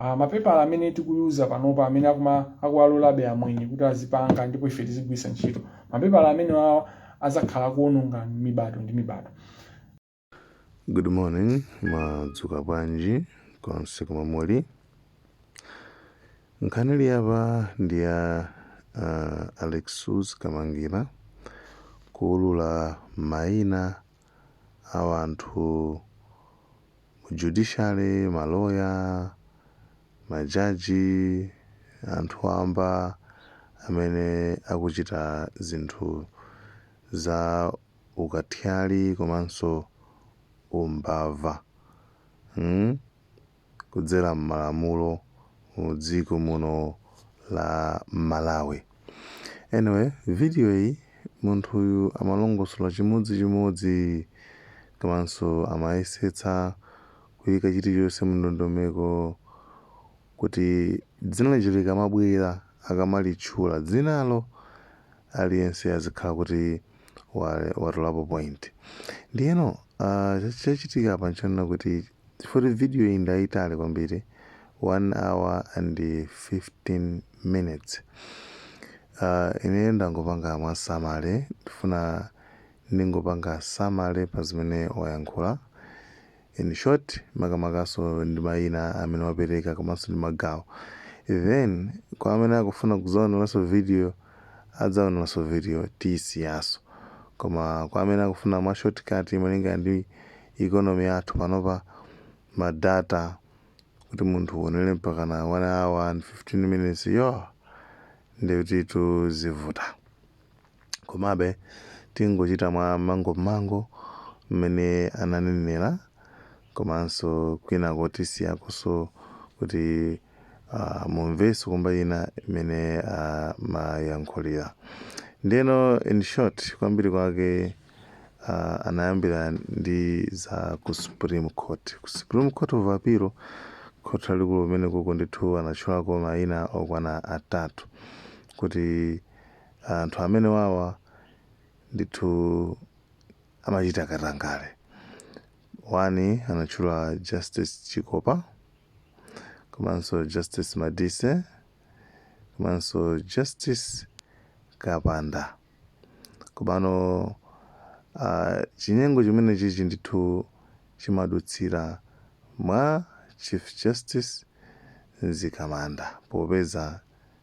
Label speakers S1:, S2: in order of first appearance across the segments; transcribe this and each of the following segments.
S1: Ah, mapepala amene tikuwauza panopa amene akuma akuwalolabe amwenye kuti azipanga ndipo ife tizigwiritsa ntchito mapepala amene wawa azakhala kuononga mibadwo ndi mibadwo
S2: Good morning, madzuka bwanji konse komwe muli. Nkhani ili apa ndi ya uh, Alexious Kamangira kuulula maina a anthu mu judiciary, ma lawyer, ma jaji, anthu wamba amene akuchita zinthu za ukatyali komanso umbava kudzera m'malamulo. mu dziko muno la Malawi. Anyway, video iyi munthu uyu amalongosola chimodzi chimodzi komanso amayesetsa kuyika chilichonse mu ndondomeko kuti dzina lililonse likamabwera akamalitchula dzinalo aliyense azikhala kuti watolapo point ndiyeno ah, cha- chachitika apa nchonena kuti chifukwa kuti video iyi ndayitali kwambiri 1 hour and 15 minutes Ah, ine ndangopanga mwa summary ndifuna ndingopanga summary pa zimene wayankhula in short makamakanso ndi maina amene wapereka komanso ndi magawo then kwa amene akufuna kudzaoneranso video adzaoneranso video tiyisiyanso koma kwa amene akufuna mwa shortcut malinga ndi economy yathu panopa ma data kuti munthu uonere mpakana 1 hour and 15 minutes yo ndiyetu zivuta Komabe tingochita mwa mmangummangu mmene ananenera komanso kwinako tisiyakonso kuti ah, mumvenso kumba ina imene amayankhulira. Ndiyeno in short kwambiri kwake ah, anayambira ndi za ku Supreme Court. Ku Supreme Court of Appeal khoti lalikulu kumenekoko ndithu anatchulako mayina okwana atatu kuti Anthu amenewawa ndithu amachita katangale. One anatchula Justice Chikopa komanso Justice Madise komanso Justice Kapanda. Komano ah, chinyengo chimene chichi ndithu chimadutsira mwa Chief Justice Mzikamanda popeza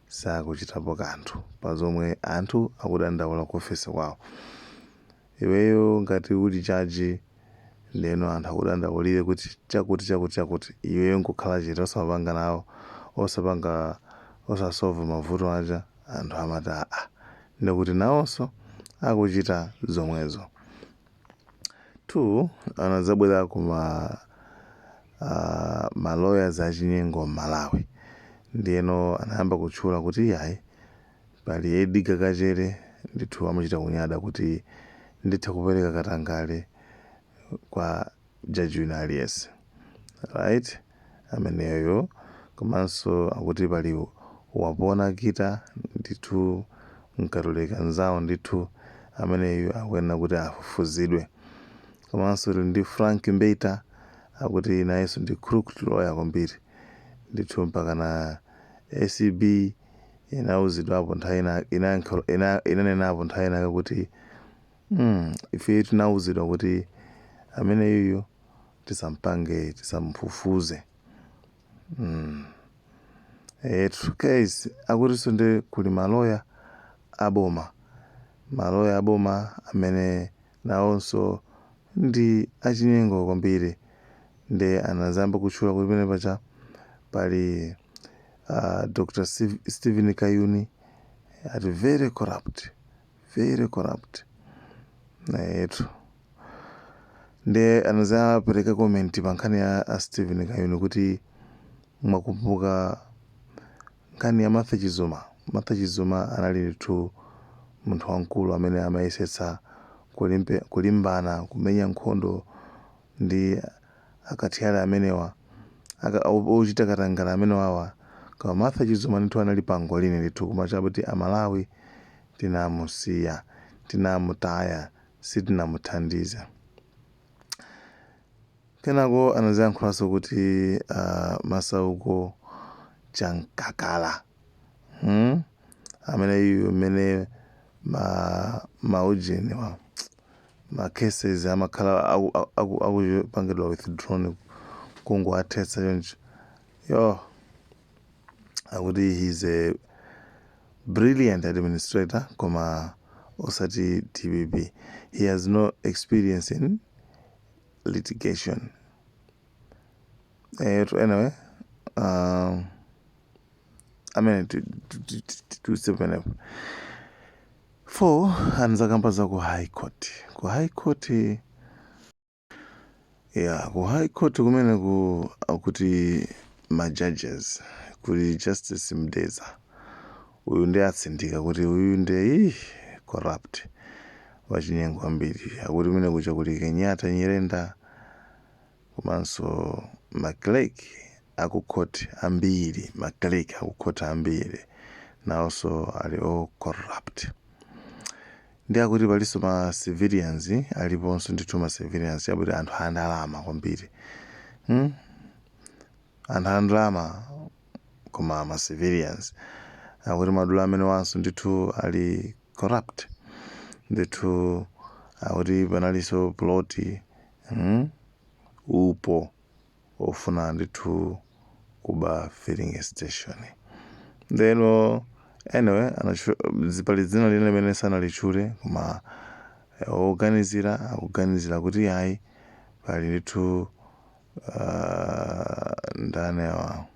S2: sakuchitapo kanthu pa zomwe anthu akudandaula ku ofesi kwawo. Iweyo ngati uli judge ndeno anthu akudandaulire kuti chakuti chakuti chakuti iweyo nkukhala chete osamapanga nawo osapanga osasolve mavuto aja anthu amati aah ndekuti nawonso akuchita zomwezo. 2 anadzabwera ku ma uh, ma lawyers achinyengo m'malawi ndiyeno anayamba kutchula kuti iyayi pali Edgar Kachere ndithu amachita kunyada kuti nditha kupereka katangale kwa judge wina aliyense right ameneyo komanso akuti pali wapona kita ndithu mkatolika nzawo ndithu ameneyo akuyenera kuti afufuzidwe komanso tili ndi frank mbeta akuti nayenso ndi crooked lawyer kwambiri ndithu mpaka na acb inauzidwapo nthawi ina- inayankha- ina- inanenapo nthawi inake kuti mm, ife tinauzidwa kuti ameneyuyu tisampange tisamfufuze mm. etu guys akutinso ndi kuli maloya aboma maloya aboma amene nawonso ndi achinyengo kwambiri nde anazayamba kutchula kuti pamene paja pali uh, dr Steve- stephen kayuni ati very corrupt very corrupt nayetu nde anazapereka comment pa nkhani ya a Stephen Kayuni kuti mwakumbuka nkhani ya Martha Chizuma Martha Chizuma anali ndithu munthu wamkulu amene amayesetsa kulimbe- kulimbana kumenya nkhondo ndi akathyali amenewa aka- o- ochita katangale amenewawa koma martha chizuma ndithu anali pangolini ndithu koma chakuti amalawi tinamusiya tinamutaya sitinamuthandize kenako anaziyankhulanso kuti ah, masauko chamkakala hmm? ameneyu mmene ma maujeniwa ma cases amakhala aku- aku- akupangidwa withdrawn kungowathetsa choncho yo akuti he's a brilliant administrator koma osati dpp he has no experience in litigation eyetu anyway um, amene tidutse pamenepo number four anadzakamba za ku high court ku high court ya ku high court kumene akuti ma judges kuli justice mdeza uyu ndiye atsindika kuti uyu ndiye ih, corrupt wachinyengo kwambiri akuti kumene kuja kuli kenyatta nyirenda komanso ma clerk aku court ambiri ma clerk aku court ambiri naonso ali o corrupt ndiye akuti palinso ma civilians aliponso ndithu ma civilians akuti anthu andalama kwambiri hmm? anthu andalama koma ma civilians akuti madolo amenewanso ndithu ali corrupt ndithu akuti panalinso ploti mm upo ofuna ndithu kuba filling station ndiyeno anyway anatchu- zi- pali dzina lina limene sanalitchule koma eh, oganizira akuganizira kuti ayi pali ndithu ah, ndani awa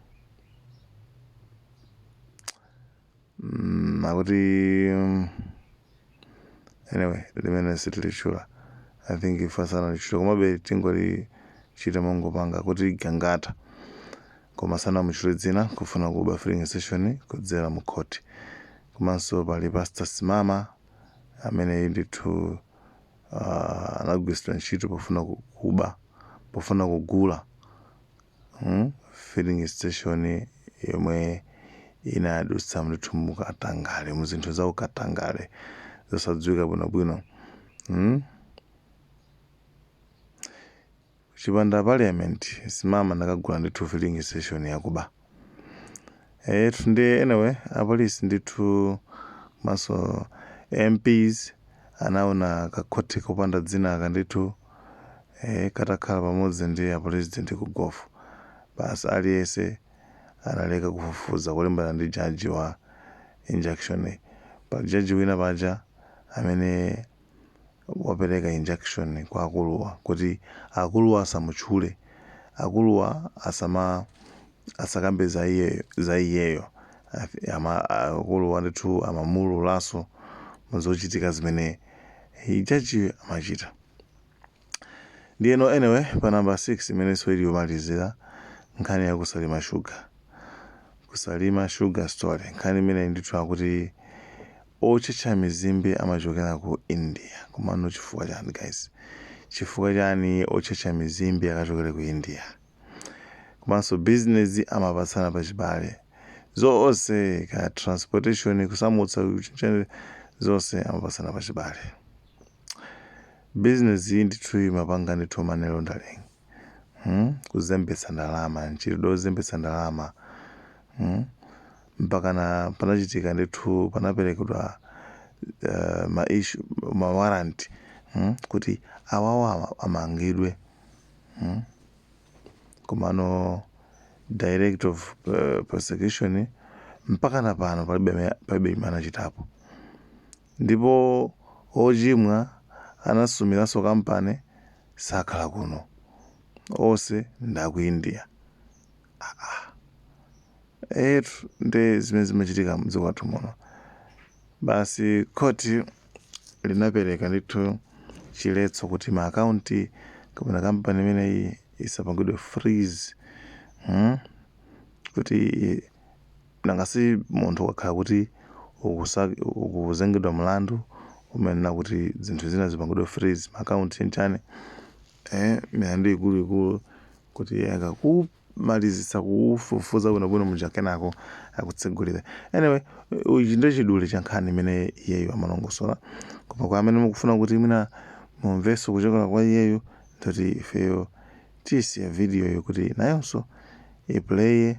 S2: akuti anyway limene sitilitchula i think ife asanalitchula komabe tingolitchula mongopanga kuti gangata koma sanamutchule dzina kufuna kuba filling station kudzera mu khoti komanso pali pastor simama amene ndithu ah, anagwiritsidwa ntchito pofuna ku- kuba pofuna kugula Filling station yomwe inadutsa ndithu mu katangale mu zinthu za ukatangale zosadziwika bwinobwino hmm? chipanda parliament simama nakagula ndithu filling station yakuba Eyetu ndiye anyway apolisi ndithu komanso mps anaona kakhoti kopanda dzina aka ndithu eh, katakhala pamodzi ndi apresident ku gofu basi aliyese analeka kufufuza kulimbana ndi jaji wa injunction paja jaji wina paja amene wapereka injunction kwa akuluwa kuti akuluwa asamutchule, akuluwa asama asakambe za iyeyo za iyeyo Afi- ama- akuluwa ndithu amamuululaso muzochitika zimene hi- jaji amachita ndiyeno anyway pa namba 6 imeneso ili yomalizira nkhani ya kusalima shuga kusalima sugar story nkhani imene ndithu akuti Otchetcha mizimbe amachokera ku India komano chifukwa chani guys? Chifukwa chani otchetcha mizimbe akachokere ku India? Komanso business amapatsana pa chibale zonse kaya transportation kusamutsa kuchenjere zonse amapatsana pa chibale. Business iyi ndithu imapanga ndithu money laundering. kuzembetsa ndalama, mchitidwe wozembetsa ndalama mpakana panachitika ndithu panaperekedwa eh, ma issue ma warrant mm, kuti awawa amangidwe mm. komano director of eh, prosecution mpakana pano palibe ame- palibe chimene anachitapo Ndipo ochimwa anasumilanso company sakhala kuno onse ndi a ku India aah eyetu nde zimene zimachitika mdziko lathu muno basi court linapeleka ndithu chiletso kuti ma account kapena company imeneyi isapangidwe freeze mmh kuti Nanga si munthu ukakhala kuti uku- ukuzengedwa mlandu umayenera kuti zinthu zina zipangidwe freeze, ma account chani chani, eeh milandu ikuluikulu kuti akakumalizitsa kukufufuza bwinobwino muja kenako akutsegulire. Anyway, ichi nde chidule cha nkhani imene iyeyu amalongosola koma kwa amene mukufuna kuti mwina mumvenso kuchokera kwa iyeyu nde kuti ifeyo tiyisiya video yo kuti nayonso iplaye.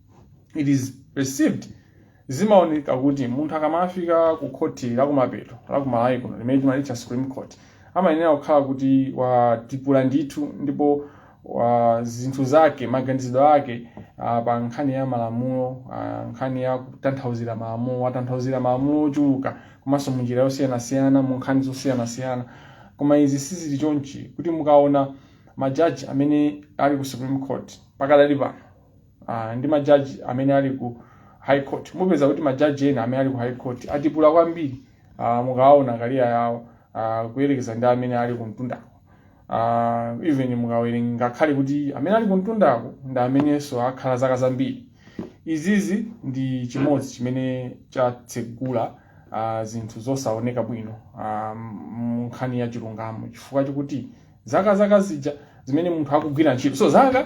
S1: it is received zimaoneka kuti munthu akamafika ku khoti lakumapeto la ku Malawi kuno limene timalitcha supreme court amayenera kukhala kuti watipula ndithu ndipo zinthu zake maganizidwe ake ah, pa nkhani ya malamulo ah, nkhani ya kutanthauzira malamulo watanthauzira malamulo ochuluka komanso munjira yosiyanasiyana mu nkhani zosiyanasiyana koma izi sizili chonchi kuti mukaona majaji amene ali ku supreme court pakadali pano uh, ndi majaji amene ali ku high court mupeza kuti majaji ena amene ali ku high court atipula kwambiri uh, mukawaona career yawo uh, kuyerekeza ndi amene ali kumtundako uh, even mukawerenga ngakhale kuti amene ali kumtundako ndi amenenso akhala zaka zambiri izizi ndi chimodzi chimene chatsegula uh, zinthu zosaoneka bwino uh, munkhani ya chilungamo chifukwa chokuti zaka zaka zija zimene munthu akugwira ntchitozo zaka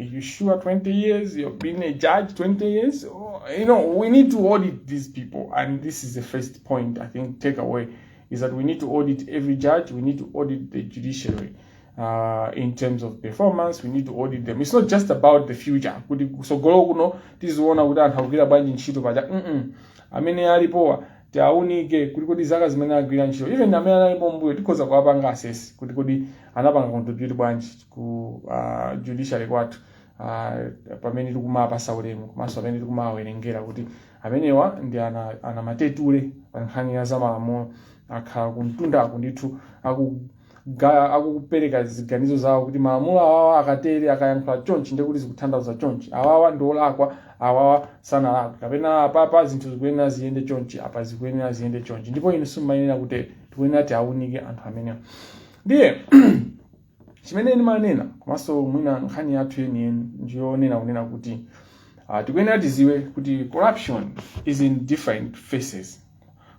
S1: Are you sure 20 years? You've been a judge 20 years? Oh, you know, we need to audit these people. And this is the first point, I think, takeaway is that we need to audit every judge, we need to audit the judiciary. Uh, in terms of performance we need to audit them it's not just about the future kuti kusogolo kuno tiziona kuti anthu akugwira bwanji ntchito paja amene alipowa tiaunike kuti kodi zaka zimene agwira ntchito even amene analipo mbuyo tikhoza kuwapanga assess kuti kodi anapanga contribute bwanji ku uh, judiciary kwathu uh, amene tikumapasa ulemu komanso amene tikumawerengera kuti amenewa ndi ana, anamatetule pa nkhani ya zamalamulo akhala kumtundako ndithu aku ga- akupereka ziganizo zawo kuti malamulo awawa akatere akayankhula chonchi ndiye kuti zikuthandauza chonchi awawa ndi olakwa awawa sanalakwe kapena apapa zinthu zikuyenera ziyende chonchi apa zikuyenera ziyende chonchi ndipo inu simumayenera kuti tikuyenera tiaunike anthu amenewa ndiye chimene ndimanena komanso mwina nkhani yathu yeniyeni ndiyonena kunena kuti uh, tikuyenera tidziwe kuti corruption is in different faces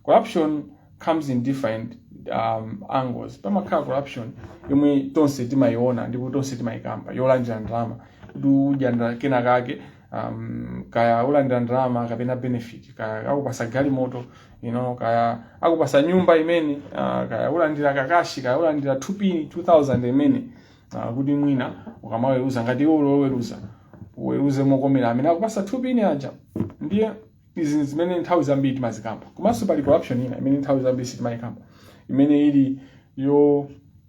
S1: corruption comes in different um, angles pamakhala corruption yomwe tonse timayiona ndipo tonse timayikamba yolandira ndalama kuti udya ndala- kena kake um, kaya ulandira ndalama kapena benefit kaya akupatsa galimoto you know, kaya akupatsa nyumba imene uh, kaya ulandira kakashi kaya ulandira tupini 2000 imene uh, kuti mwina ukamaweruza ngati iwe uli oweruza uweruze mokomera amene akupatsa tupini aja ndiye izi ndi zimene nthawi zambiri timazikamba komanso pali corruption ina imene nthawi zambiri sitimayikamba imene ili yo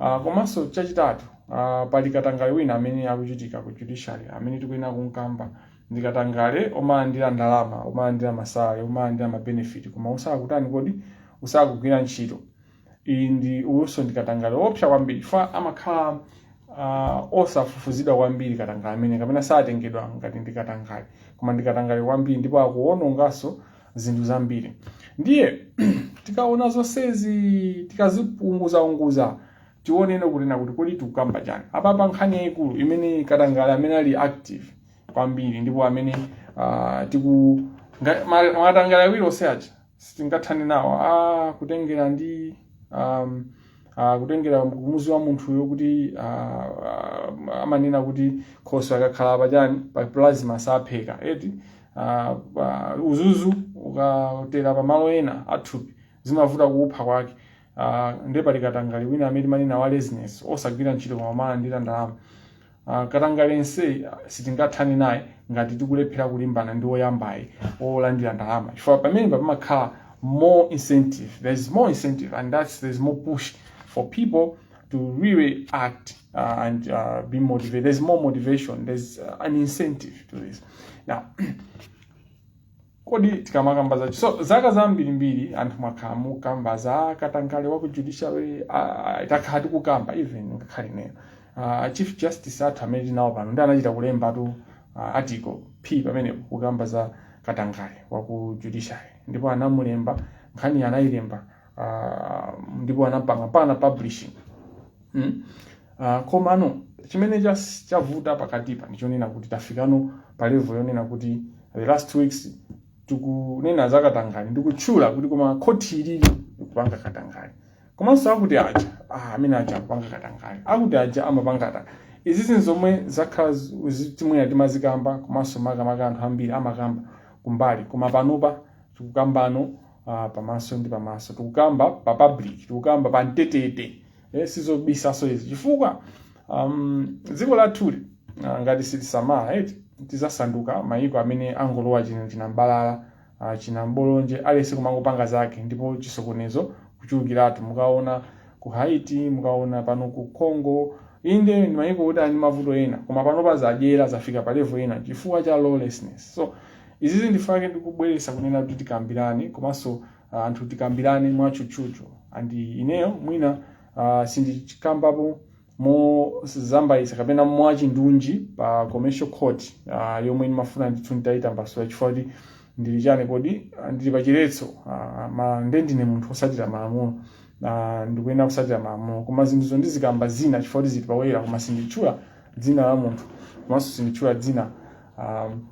S1: Ah, komanso chachitatu ah, pali katangale wina amene akuchitika ku judiciary amene tikuyenera kumkamba ndi katangale omalandira ndalama omalandira masalale omalandira mabenefit koma usakutani kodi usakugwira ntchito uyu ndi uwunso ndi katangale woopsa kwambiri chifukwa amakhala ah, osafufuzidwa kwambiri katangale amene kapena satengedwa ngati ndi katangale koma ndi katangale kwambiri ndipo akuwononganso zinthu zambiri ndiye tikaona zonsezi tikaziunguzaunguza tionene kunena kuti kodi tikukamba chani apapa nkhani yayikulu imene katangale amene ali active kwambiri ndipo amene uh, tiku nga- ma- makatangale awiri onse aja sitingathane nawo ah, kutengera ndi um, uh, kutengera kumudzi wa munthuyo kuti uh, uh, amanena kuti khoswe akakhala pachani pa plasma sapheka eti Ah, pa- uzuzu ukatera pa malo ena athupi zimavuta kuupha kwake Ah, nde pali katangale wina amene timanena wa laziness osagwira ntchito koma amalandira ndalama Ah, katangale yenseyi ah, sitingathane naye ngati tikulephera kulimbana ndi woyambayi wolandira ndalama chifukwa pamene pamakhala more incentive there is more incentive and that's there is more push for people to really act uh, and uh, be motivated. There's more motivation. There's uh, an incentive to this. Now, kodi tikamakamba zacho so zaka zambirimbiri anthu mwakhala mukamba za katangale wa ku judiciary uh, takhala tikukamba even ngakhale nena uh, chief justice athu amene tinawo pano ndi anachita kulemba tu uh, article p pamene kukamba za katangale wa ku judiciary ndipo analemba nkhani anayilemba uh, ndipo anapanga mpaka na publishing mm? uh, komano chimene chas- chavuta pakatipa ndichonena kuti tafikano pa level yonena kuti the last two weeks tikunena za katangale ndikutchula kuti koma khoti ilili likupanga katangale komanso akuti aja ah, amene aja akupanga katangale akuti aja amapanga katangale izi zinthu zomwe zakhala zi- zi- timanena timazikamba komanso makamaka anthu ambiri amakamba kumbali koma panopa tikukambano ah, pamaso ndi pamaso tikukamba pa public tikukamba pa mbetete eh, sizobisaso izi chifukwa um, dziko lathuli uh, ngati sitisamala eti tizasanduka mayiko amene angolowa china- chinambalala uh, chinambolonje aliyense kumangopanga zake ndipo chisokonezo kuchulukiratu mukaona ku haiti mukaona pano ku congo inde ndi mayiko kuti ali ndi mavuto ena koma panopa zadyera zafika pa level ina chifukwa cha lawlessness so Izizi ndifunika tikubweresa kunena kuti tikambirane komanso uh, anthu tikambirane mwatchutchutchu and ineyo mwina uh, sindichikambapo mozambayisa kapena mwachindunji pa commercial court uh, yomwe ndimafuna ndithu nditayitambasula chifukwa kuti ndili chani kodi ah, ndili pachiletso uh, ma nde ndine munthu otsatira malamulo uh, ndikuyenera kutsatira malamulo koma zinthuzo ndizikamba zina chifukwa kuti zili poyera koma sinditchula dzina la munthu komanso sinditchula dzina um,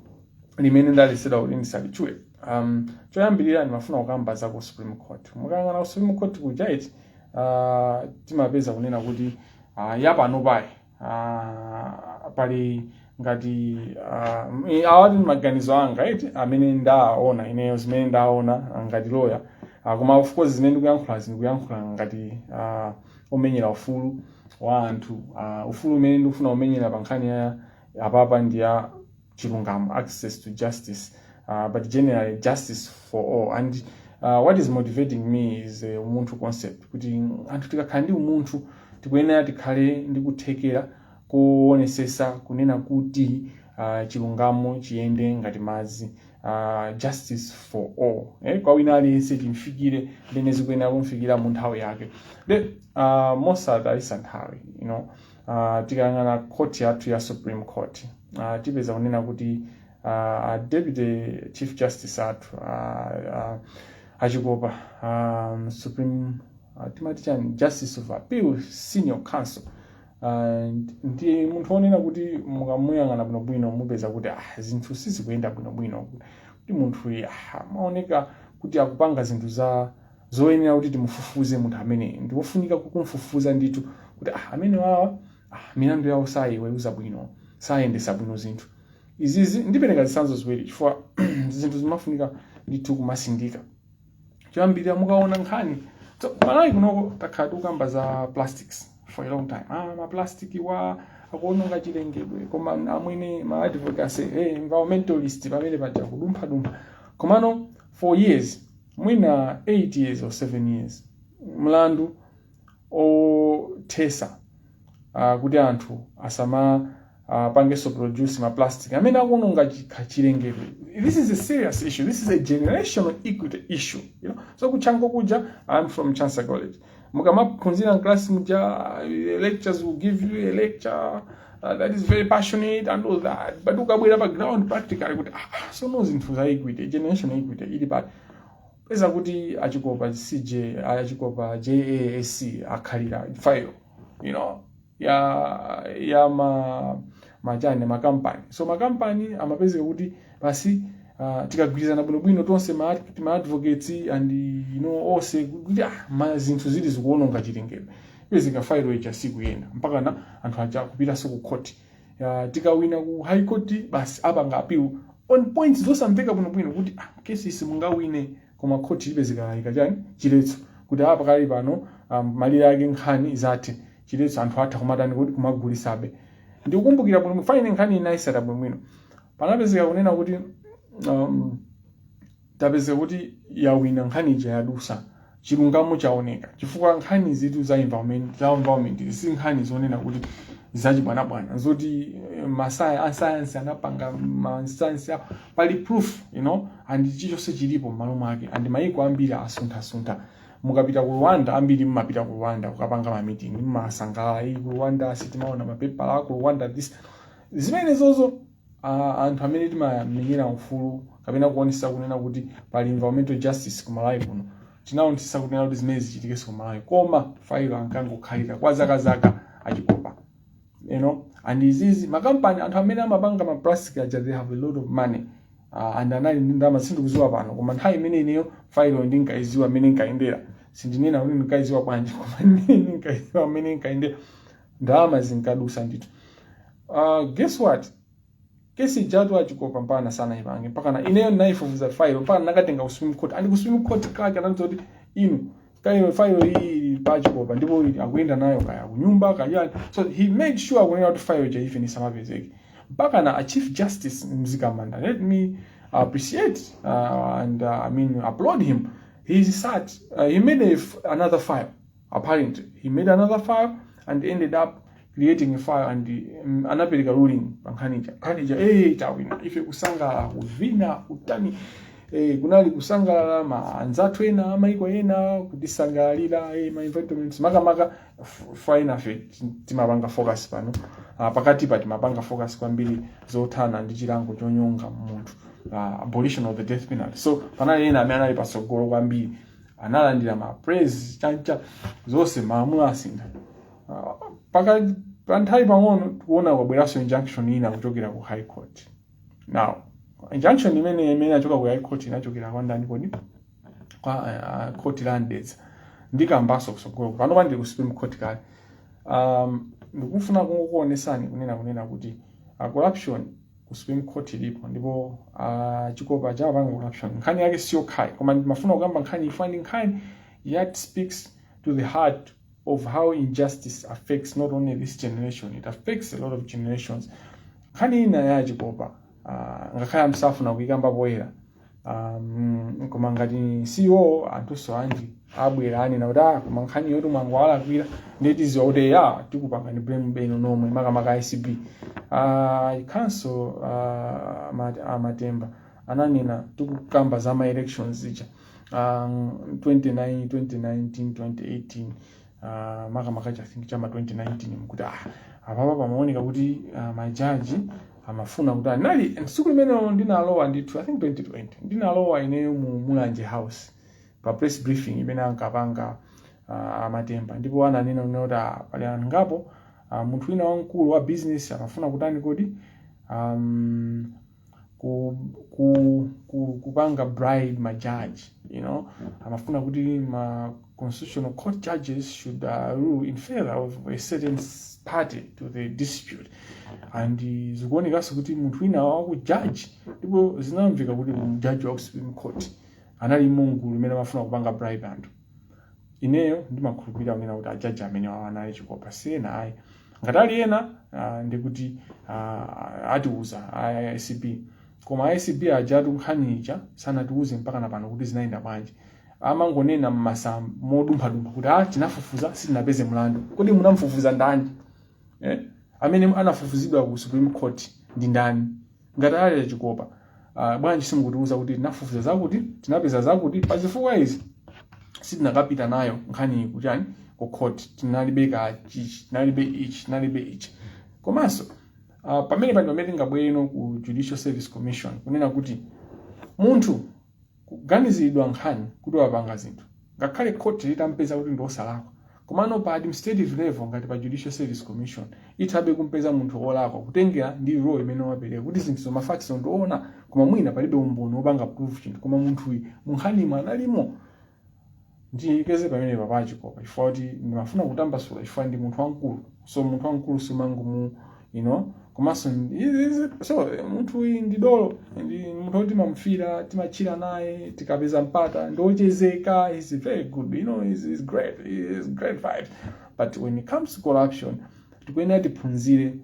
S1: limene ndaletsedwa kuti ndisalitchule um, choyambirira ndimafuna kukamba za ku supreme court mukayang'ana ku supreme court kuja iti uh, timapeza kunena kuti uh, yapanopayi uh, pali ngati uh, i- awa ndi maganizo anga iti amene ndaona ineyo zimene ndaona uh, ngati loya uh, koma of course zimene ndikuyankhulazi ndikuyankhula ngati uh, omenyera ufulu wa anthu uh, ufulu umene ndikufuna kumenyera pa nkhani ya apapa ndi ya chilungamo access to justice uh, but generally justice for all and uh, what is motivating me is uh, umunthu concept kuti anthu tikakhala ndi umunthu tikuyenera tikhale ndi kuthekera kuonesesa kunena kuti uh, chilungamo chiyende ngati madzi uh, justice for all eh? kwa wina aliyense chimfikire mmene zikuyenera kumfikira mu nthawi yake nde uh, mosatayitsa nthawi you know Uh, tikayang'ana court yathu ya supreme court uh, tipeza kunena kuti uh, a deputy chief justice athu uh, uh, a Chikopa um, supreme uh, timati chani justice of appeal senior counsel uh, ndi munthu onena kuti mukamuyang'ana bwinobwino mupeza kuti ah, zinthu sizikuyenda bwinobwino kuti munthu uyu ah, amaoneka kuti akupanga zinthu za zoyenera kuti timufufuze munthu ameneyo ndi wofunika kukumfufuza ndithu kuti ah, amene wawa ah, milandu yawo sayiweruza bwino sayendesa bwino zinthu izizi ndipereka zitsanzo ziwiri chifukwa zinthu zimafunika ndithu kumasindika choyambirira mukaona nkhani so, malawi kunoko takhala tikukamba za plastics for a long time ah, maplasticwa akuononga chilengedwe koma amwene ma advocacy hey, environmentalist pamene paja kudumphadumpha komano for years mwina 8 years or 7 years mlandu othetsa uh, kuti anthu asama uh, pangenso produce ma plastic amene akuononga chikha chilengedwe this is a serious issue this is a generational equity issue you know so ku Chanco kuja i'm from chancellor college mukamaphunzira mklasi muja lecturers will give you a lecture uh, that is very passionate and all that but ukabwera pa ground practically kuti ah, ah, sono zinthu za equity generational equity ili pati peza kuti a Chikopa DCJ a Chikopa JA SC akhalira file you know ya ya ma machani makampani so makampani amapezeka kuti basi uh, tikagwirizana bwinobwino tonse ma ad- ma advocates and you know onse kuti ah, ma zinthu zili zikuononga chilengedwe ipezeka failo ija sikuyenda mpakana anthu aja kupitanso ku court Ya, tikawina ku high court basi apanga appeal on points zosamveka bwinobwino kuti ah, kesi simungawine Koma khoti lipezeka laika chani? Chiletso. Kuti aa pakali pano am malire ake nkhani izathe. Chiletso anthu atha kumatani kodi? Kumagulisabe. Ndikukumbukira bwino fine nkhani iyi ndinayitsata bwinobwino. Panapezeka kunena kuti am tapezeka kuti yawina nkhani ija yadusa. Chilungamo chawoneka. Chifukwa nkhani izitu za environment za environment izi si nkhani zonena kuti zachibwanabwana. Zoti masaya a science anapanga ma science awo. pali proof you know and chichonse chilipo m'malo mwake and mayiko ambiri asunthasuntha mukapita ku rwanda ambiri mmapita ku rwanda kukapanga ma meeting mmasangalala ii ku rwanda sitimaona mapepala a ku rwanda this zimenezozo uh, anthu amene timamenyera ufulu kapena kuonetsetsa kunena kuti pali environmental justice ku malawi kuno tinaonetsetsa kunena kuti zimene zichitikenso ku malawi koma failo ankangokhalira kwa zakazaka a Chikopa you know and izizi makampani anthu amene amapanga ma plastic aja they have a lot of money uh, and anali ndi ndalama sindikuziwa pano koma nthawi imene ineyo failo ndinkayiziwa mmene nkayendera sindinena kuti ndinkayiziwa bwanji koma imene ndinkayiziwa mmene nkayendera ndalama zinkadusa ndithu uh, guess what kesi ijatu achikopa mpakana sanaipange mpakana ineyo ndinayifufuza failo mpakana nakatenga ku supreme court ali ku supreme court kake anandiuza kuti inu kayo failo ili pa achikopa ndipo ili akuyenda nayo kaya kunyumba kaya so he made sure kunena kuti failo ija even isamapezeke mpakana a chief justice mzikamanda let me appreciate uh, and uh, i mean applaud him he sat uh, he made a f- another file apparently he made another file and ended up creating a file and um, anapereka ruling pa nkhani ija nkhani ija eh tawina ife kusangalala kuvina kutani eh, kunali kusangalala ma anzathu ena amaiko ena kutisangalalira eh, ma environments makamaka f- fa enafe ti- timapanga focus pano ah, pakati pa timapanga focus kwambiri zothana ndi chilango chonyonga munthu ah, abolition of the death penalty so panali ena amene anali patsogolo kwambiri analandira ma praise chancha zonse malamulo asintha Ah, paka pa nthawi pang'ono tikuona kwabweranso injunction ina kuchokera ku high court now injunction imene imene achoka ku high court inachokera kwa ndani kodi kwa uh, court la Mdeza ndikambaso kusogolo panopa ndi ku supreme court kale um, ndikufuna kungokuonesani kunena kunena kuti uh, corruption ku supreme court ilipo ndipo uh, chikopa chapanga corruption nkhani yake si yokhayi koma ndimafuna kukamba nkhani chifukwa ndi nkhani yoti speaks to the heart of how injustice affects not only this generation it affects a lot of generations nkhani ina ya chikopa uh, ngakhale amsafuna kuikamba poyera um, koma ngati siwo anthunso anji abwera anena kuti ah koma nkhani yoti mwangu alakwira ndiye tiziwa kuti ya tikupangani blame inu nomwe makamaka acb uh, ikhanso uh, mat, amatemba ananena tikukamba za ma elections zija um, 29 2019 2018 uh, makamaka i think chama 2019 mkuti ah apapa pamaoneka kuti uh, majaji amafuna kutani tsiku limenelo ndinalowa ndithu i think 2020 ndinalowa ineyo mu mulanje house pa press briefing imene ankapanga uh, amatemba ndipo ananena kunena kuti ah, pali anthu angapo uh, munthu wina wamkulu wa business amafuna kutani kodi um, ku, ku, ku, kupanga bribe ma judge you know amafuna kuti ma constitutional court judges should uh, rule in favor of a certain s- party to the dispute and uh, zikuonekanso kuti munthu wina wakujaji ndipo zinamveka kuti mjaji wa ku supreme court anali mugulu limene amafuna kupanga bribe anthu ineyo ndimakhulupirira kunena kuti ajaji amenewa anali a chikopa si ena ayi ngati ali ena ah, ndikuti ah, atiuza a- a- acb koma acb ajatu nkhani ija sanatiuze mpaka na pano kuti zinayenda bwanji amangonena mmasa modumphadumpha kuti ah tinafufuza sitinapeze mlandu kodi munamfufuza ndani eh? amene anafufuzidwa ku supreme court ndi ndani ngati ali achikopa uh, bwanji simukutiuza kuti tinafufuza zakuti tinapeza zakuti pa zifukwa izi sitinakapita nayo nkhani ku chani ku court tinalibe ka chichi tinalibe ichi tinalibe ichi komanso uh, pamene pano pamene tingabwere no ku judicial service commission kunena kuti munthu kuganiziridwa nkhani kuti wapanga zinthu ngakhale court litampeza kuti ndiosalakwa komano pa administrative level ngati pa judicial service commission ithabe kumpeza munthu olakwa kutengera ndi role imene wapereka kuti zinthuzo ma facts ndioona koma mwina palibe umboni wopanga prove chinthu koma munthuyi munkhanimu analimo Ndilekeze pamenepa pa achikopa chifukwa kuti ndimafuna kutambasula chifukwa ndi munthu wamkulu. So munthu wamkulu sumangomu you know komanso so munthu uyu ndi dolo ndi munthu woti timamufira timatchila naye tikapeza mpata ndi wochezeka he's very good you know he's he's great he's great vibe but when it comes to corruption tikuyenera tiphunzire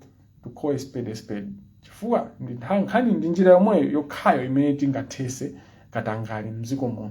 S1: to call a spade a spade chifukwa ndi nkhani ndi njira yomweyo yokhayo imene tingathese katangale mdziko muno